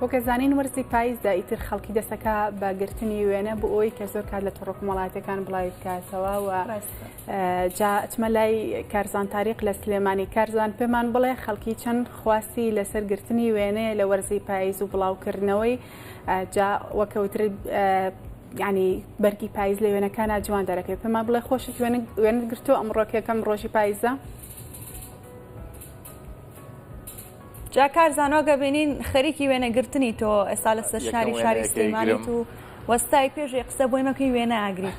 وەک ئەزانین وەرزی پاییزە ئیتر خەڵکی دەسەکا بە گرتنی وێنە بۆ ئەوی کە زۆر کات لە تۆڕۆک مەڵاتەکان بڵاوی بکاتەوە و جا ئەچمە لای کارزان تاریق لە سلێمانی کارزان پێمان بڵێ خەڵکی چەند خواستی لەسەر گرتنی وێنەیە لە وەرزی پاییز و بڵاوکردنەوەی جا وەکەوتر ینی بەرگی پاییز لە وێنەکانە جوان دەرەکەی پێمان بڵێ خۆشت وێنت گرتو ئەمڕۆکەکەم ڕۆژی پاییزە. جا کار زانۆگە بینین خەریکی وێنە گرتنی تۆ ئێستا لە سەر شاری شاری سلێمانیت و وەستای پێشی قسە بۆی مەکەی وێنە ئاگری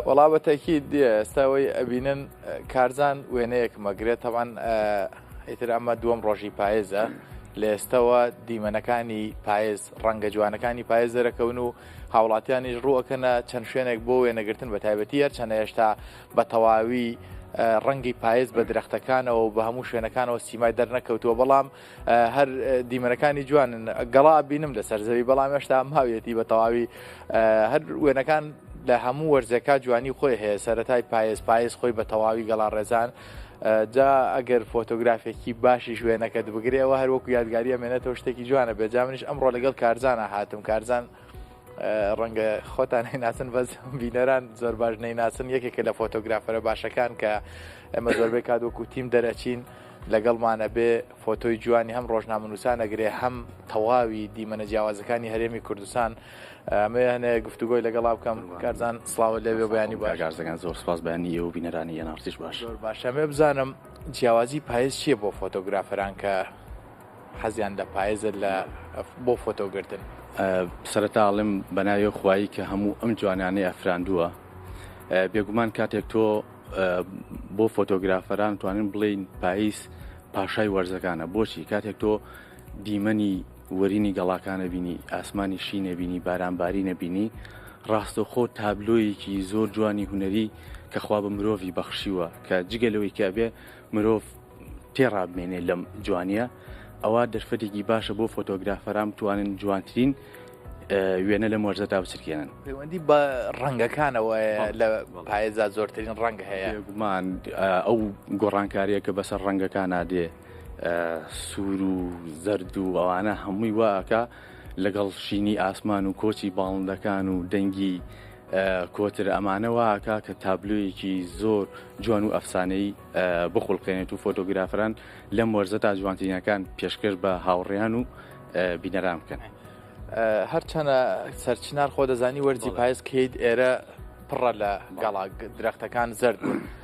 وەڵا بەتەکی دیە ئێستاەوەی ئەبینن کارزان وێنەیەک مەگرێت تەوان ئیتر ئەمە دووەم ڕۆژی پایێزە لە ئێستەوە دیمەنەکانی پایز ڕەنگە جوانەکانی پایز دەرەکەون و هاوڵاتیانیش ڕووەکەنە چەند شوێنێک بۆ وێنەگرتن بە تایبەتی هەرچەنە هێشتا بە تەواوی ڕەنگی پایز بە درەختەکانەوە بە هەموو شوێنەکانەوە سیمای دەرنەکەوتووە بەڵام هەر دیمەنەکانی جوانن گەڵا بینم لەسەر زەوی بەڵام هێشتا ماویەتی بە تەواوی هەر وێنەکان لە هەموو وەرزەکە جوانی خۆی هەیە سەتای پایز پایز خۆی بە تەواوی گەڵا ڕێزان جا ئەگەر فۆتۆگرافێکی باشیش وێنەکەت بگرێ ئەوە هەر وەکو یادگاری ئەمێنێتەوە شتێکی جوانە بێ جامنیش ئەمڕۆ لەگەڵ کارزانە هاتم کارزان ڕەنگە خۆتان هەیناسن بەس بینەران زۆر باش نەیناسن یەکێکە لە فۆتۆگرافەرە باشەکان کە ئەمە زۆربەی کات وەکو تیم دەرەچین لەگەڵمانە بێ فۆتۆی جوانی هەم ڕۆژنامەنووسانەگرێ هەم تەواوی دیمەنە جیاوازەکانی هەرێمی کوردستان ئەمەوێ هەنێ گفتوگۆی لەگەڵا بکەم کارزان سڵاوە لەوێ بەیانی باشگازەکان زۆر سپاس بەنی ئێو بینەرانی یەناڕتیش باش زۆر باشەمێ بزانم جیاوازی پایز چییە بۆ فۆتۆگرافەران کە حەزیان لە پایزە لە بۆ فۆتۆگرتن سەرتاڵم بەناوێ خوایی کە هەموو ئەم جوانانەی ئەفراندووە بێگومان کاتێک تۆ بۆ فۆتۆگرافەران توانین بڵین پاییز پاشای وەرزەکانە بۆچی کاتێک تۆ دیمەنی وەرینی گەڵاکانە بینی، ئاسمانی شینە بینی، بارانبارینە بینی، ڕاستەوخۆ تابلۆیەکی زۆر جوانی هونەری کە خوا بە مرۆڤی بەخشیوە کە جگە لەوەی کە ئەبێ مرۆڤ تێڕابمێنێ لەم جوانیە ئەوە دەرفەتێکی باشە بۆ فۆتۆگرافەران بتوانن جوانترین وێنە لە مۆرزەدا بچرکێنن پەیوەندی بە ڕەنگەکانەوە لە پایێزا زۆرترین ڕەنگ هەیە گومان ئەو گۆڕانکاریە کە بەسەر ڕەنگەکان نادێ سوور و زەرد و ئەوانە هەمووی وا ئەکا لەگەڵ شینی ئاسمان و کۆچی باڵندەکان و دەنگی کۆتر ئەمانە وا ئەکا کە تابلۆیەکی زۆر جوان و ئەفسانەی بخولقێنێت و فۆتۆگرافران لەم وەرزە تا جوانترینەکان پێشکەش بە هاوڕێیان و بینەران بکەن. هەرچەنە سەرچنار خۆ دەزانی وەرزی پایز کەیت ئێرە پڕە لە گەڵا درەختەکان زەرد بوون.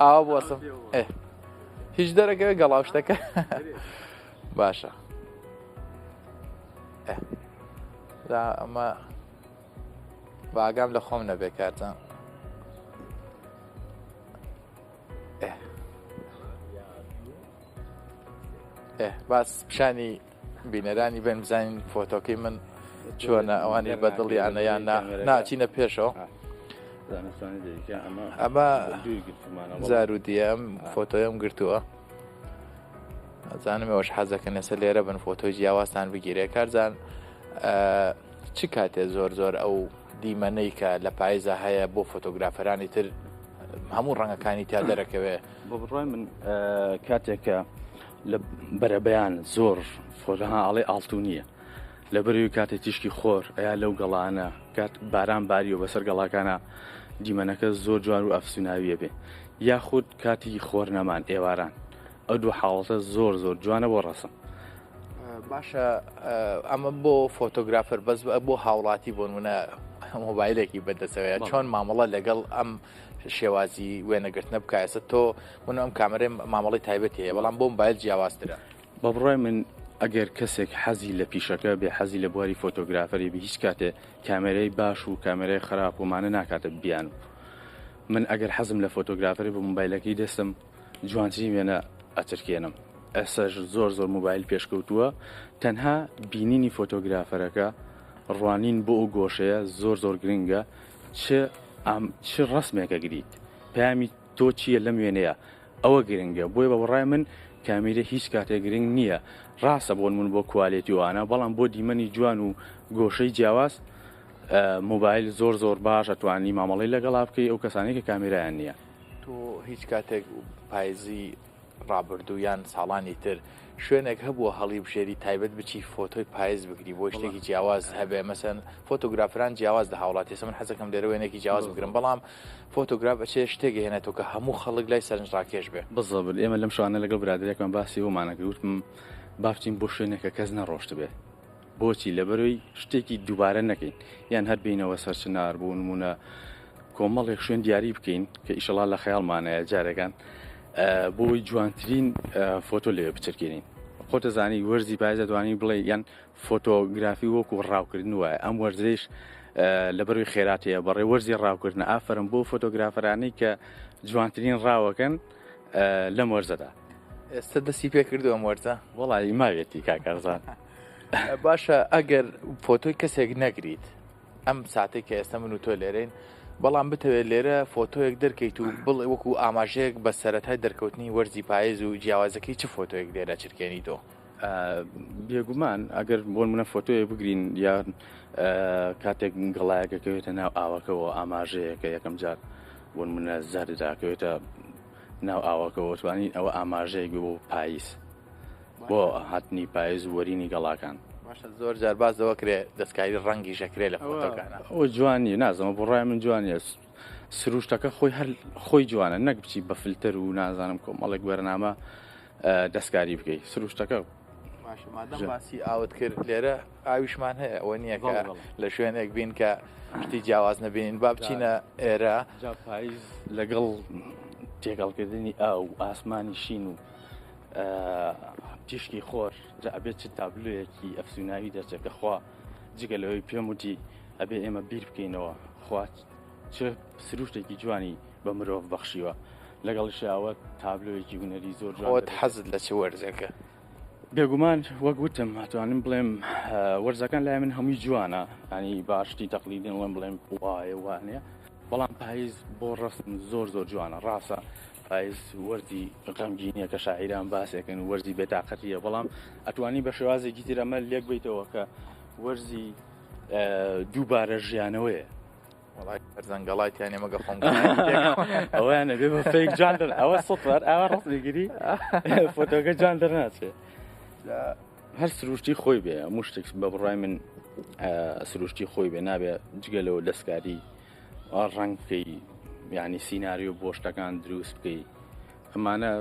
ئاوا بوەسم هیچ دەرەکەوێت گەڵاو شتەکە باشە ئەمە باگام لە خۆم نەبێ کاتە باس پیشانی بینەرانی بێن بزانین فۆتۆکەی من چۆنە ئەوانی بە دڵیانە یان ناچینە پێشەوە ئەمە زارودیەم فۆتۆیم گرتووە ئەزانم ئەوش حەزەکە نەسە لێرە بن فۆتۆی جیاوازتان بگیرێ کارزان چ کاتێ زۆر زۆر ئەو دیمەنەی کە لە پایزە هەیە بۆ فۆتۆگرافەرانی تر هەموو ڕەنگەکانی تا دەرەکەوێ بۆ بڕای من کاتێکە لە بەرەبەیان زۆر فۆرها ئاڵێ ئاڵتونیە لە بەرەوی کاتێ تیشکی خۆر ئەیا لەو گەڵانە کات باران باریەوە بەسەر گەڵاکانە دیمەنەکە زۆر جوان و ئەفسوناویە بێ یاخود کاتی خۆر نەمان ئێواران ئەو دوو حاڵەتە زۆر زۆر جوانە بۆ ڕەسم باشە ئەمە بۆ فۆتۆگرافەر بەس بۆ هاوڵاتی بۆنمونە مۆبایلێکی بەدەسەوەیە چۆن مامەڵە لەگەڵ ئەم شێوازی وێنەگرتنە بکە ئێستا تۆ من ئەم کامەرێ مامەڵی تایبەت هەیە بەڵام بۆم بایل جیاوازترە بە بڕای من ئەگەر کەسێک حەزی لە پیشەکە بێ حەزی لە بواری فۆتۆگرافەری بە هیچ کاتێ کامێرەی باش و کامێرای خراپ ومانە ناکاتە بیان و من ئەگەر حەزم لە فۆتۆگرافەری بە موبایلەکەی دەستم جوانترین وێنە ئەترکێنم ئێساش زۆر زۆر موبایل پێشکەوتووە تەنها بینینی فۆتۆگرافەرەکە ڕوانین بۆ ئەو گۆشەیە زۆر زۆر گرنگە چ ئام چ ڕسمێکە گریت پامی تۆ چییە لەم وێنەیە ئەوە گرنگە بۆیە بە بڕای من کامیرە هیچ کاتێک گرنگ نییە ڕاستە بۆن من بۆ کوالێتیوانە بەڵام بۆ دیمەنی جوان و گۆشەی جیاواز موبایل زۆر زۆر باش ئەتوانی مامەڵی لەگەڵا بکەی ئەو کەسانی کە کامیرایان نییە تۆ هیچ کاتێک پایزی ڕابردوو یان ساڵانی تر شوێنێک هەبووە هەڵیبژێری تایبەت بچی فۆتۆی پایز بگری بۆ شتێکی جیاواز هەبێ مەسەن فۆتۆگرافران جیاواز لە هاوڵاتی سمن حەزەکەم لێرە وێنێکی جیاواز بگرم بەڵام فۆتۆگراف ئەچێ شتێک هێنێتەوە کە هەموو خەڵک لای سەرنجڕاکێش بێ بزەبل ئێمە لەم شانە لەگەڵ برادێکمان باسی بۆمانەکردم بابچین بۆ شوێنێکە کەس نەڕۆشت بێ بۆچی لەبەرەوەی شتێکی دووبارە نەکەین یان هەر بینەوە سەرچنار بۆ نمونە کۆمەڵێک شوێن دیاری بکەین کە ئیشەڵا لە خەیاڵمانەیە جارەکان بۆی جوانترین فۆتۆ لێ بچرکێنین خۆتەزانی وەرزی پایزە دوانی بڵێ یان فۆتۆگرافی وەکو ڕاوکردن وایە ئەم وەرزش لەبەروی خێراتەیە بەڕێ وەرزی ڕاوکردن ئافرم بۆ فۆتۆگرافەرانەی کە جوانترین ڕاوەکەن لەم وەرزەدا ئێستا دەستی پێ کردو ئەم وەرزە وڵی ماوێتی کاکارزان. باشە ئەگەر فۆتۆی کەسێک نەگریت ئەم ساتێک کە ئێستا من و تۆ لێرەین بەڵام بتەوێت لێرە فۆتۆیەک دەرکەیت و بڵێ وەکو ئاماژەیەک بە سەرەتای دەرکەوتنی وەرزی پایز و جیاوازەکەی چ فۆتۆیەک لێرە چرکێنی تۆ بێگومان ئەگەر بۆ منە فۆتۆیە بگرین یان کاتێک گەڵایەکەکەوێتە ناو ئاوەکەەوە ئاماژەیەکە یەکەم جار بۆ منە زاردراکەوێتە ناو ئاوەکەەوە توانین ئەوە ئاماژەیەک بۆ پاییس بۆ هاتنی پایز و وەرینی گەڵاکان باشە زۆر جار باز دەوە کرێ دەستکاری ڕەنگی ژەکرێ لە فۆتۆکانە ئەو جوانی نازەمە بۆ ڕای من جوانیە سروشتەکە خۆی هەر خۆی جوانە نەک بچی بە فلتەر و نازانم کۆمەڵێک وەرنامە دەستکاری بکەیت سروشتەکە باسی ئاوت کرد لێرە ئاویشمان هەیە ئەوە نییە کە لە شوێنێک بین کە شتی جیاواز نبینین با بچینە ئێرە لەگەڵ تێگەڵکردنی ئاو ئاسمانی شین و تیشکی خۆر جا ئەبێت چ تابلوەکی ئەفسوناوی دەچێت کە خوا جگە لەوەی پێم وتی ئەبێ ئێمە بیر بکەینەوە خوات چ سروشتێکی جوانی بە مرۆڤ بەخشیوە لەگەڵ شاوە تابلۆیەکی هوەری زۆر جوان حەزت لە چ وەرزەکە بێگومان وەک وتم هاتوانم بڵێم وەرزەکان لای من هەمووی جوانە ئەنی باشتی تەقلیدن وڵم بڵێم وایە وانە بەڵام پایز بۆ ڕەسم زۆر زۆر جوانە ڕاستە پایز وەرزی غەمگینیە کە شاعیران باسێکن و وەرزی بێتاقەتیە بەڵام ئەتوانی بە شێوازێکی تر ئەمە لێک بیتەوە کە وەرزی دووبارە ژیانەوەیە زەنگەڵای تیانێ مەگە خۆم ئەویانە بێ بە فێک جان ئەوە سەر ئاوا ڕستگیری فۆتۆگە جان دەرناچێت هەر سروشتی خۆی بێ هەموو شتێک بە بڕای من سروشتی خۆی بێ نابێ جگە لەوە دەستکاری ڕنگ بکەی یعنی سینناریو بۆ شتەکان دروست بکەی ئەمانە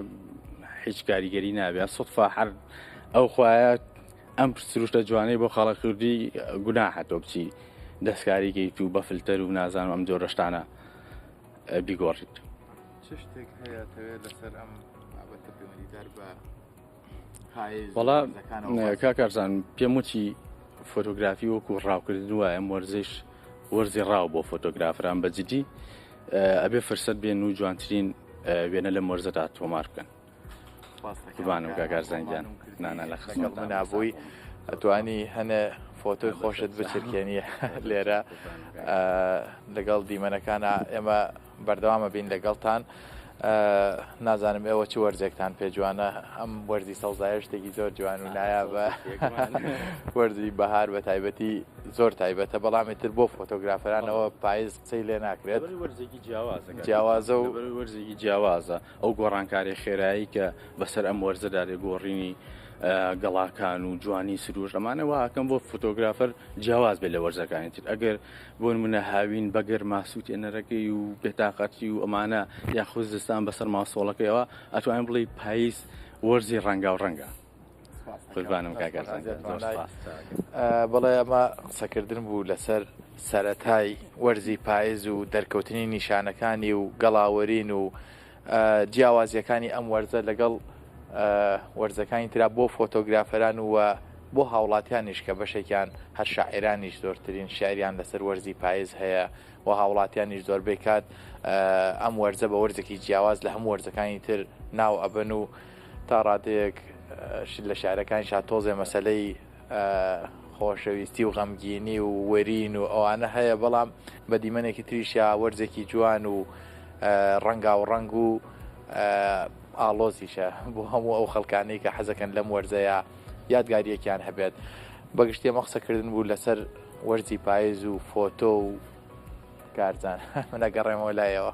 هیچ کاریگەری نابێ سوفا هەر ئەو خوایە ئەم سروشتە جوانەی بۆ خەڵک کوردی گونا هەتۆ بچی دەستکاریگەی تو بە فلتەر و نازانم ئەم جۆرەشتانە بیگۆڕیت. چ شتێک هەیە تەوێت لەسەر ئەم بابەتە پەیوەندیدار بە وڵا کاکارزان پێم وچی فۆتۆگرافی وەکو ڕاوکردن وایە وەرزش وەرزی ڕاو بۆ فۆتۆگرافران بە جدی ئەبێ فرسەت بێن و جوانترین وێنە لە مەرزەدا تۆمار بکەن بانم کاکارزانگیان نانا لە خزمەت نابووی ئەتوانی هەنە فۆتۆی خۆشت بچرکێنی لێرە لەگەڵ دیمەنەکانە ئێمە بەردەوام ئەبین لەگەڵتان نازانم ئێوە چ وەرزێکتان پێ جوانە ئەم وەرزی سەوزایە شتێکی زۆر جوان و نایابە وەرزی بەهار بە تایبەتی زۆر تایبەتە بەڵامی تر بۆ فۆتۆگرافرانەوە پایز قسەی لێ ناکرێت وەرزێکی جیاوازە جیاوازە و وەرزێکی جیاوازە ئەو گۆڕانکاری خێرایی کە بەسەر ئەم وەرزەدا لێ گۆڕینی گەڵاکان و جوانی سروش ئەمانەوە ئاکەم بۆ فۆتۆگرافەر جیاواز بێت لە وەرزەکانی تر ئەگەر بۆ نمونە هاوین بەگەر ماسووتێنەرەکەی و بێتاقەتی و ئەمانە یاخود زستان بەسەر ماسۆڵەکەیەوە ئەتوانین بڵی پاییز وەرزی ڕەنگاو ڕەنگە قوربانم بڵێ ئەمە قسەکردن بوو لەسەر سەتای وەرزی پایز و دەرکەوتنی نیشانەکانی و گەڵاوەرین و جیاوازیەکانی ئەم وەرزە لەگەڵ وەرزەکانی ترا بۆ فۆتۆگرافەران و بۆ هاوڵاتیانیش کە بەشێکیان هەر شاعێرانیش زۆرترین شعریان لەسەر وەرزی پایز هەیە و هاوڵاتیانیش زۆربەی کات ئەم وەرزە بە وەرزێکی جیاواز لە هەموو وەرزەکانی تر ناو ئەبن و تا ڕادەیەک لە شارەکان شاتۆزێ مەسلەی خۆشەویستی و غەمگینی و وەرین و ئەوانە هەیە بەڵام بە دیمەنێکی تریشیا وەرزێکی جوان و ڕەنگا و ڕنگ و ئاڵۆزیشە بۆ هەموو ئەو خەڵکانەی کە حەزەکەن لەم وەرزەیە یادگاریەکیان هەبێت بەگشتی ئەمە قسەکردن بوو لەسەر وەرزی پایز و فۆتۆ و کارزان منەگەڕێمەوە لایەوە.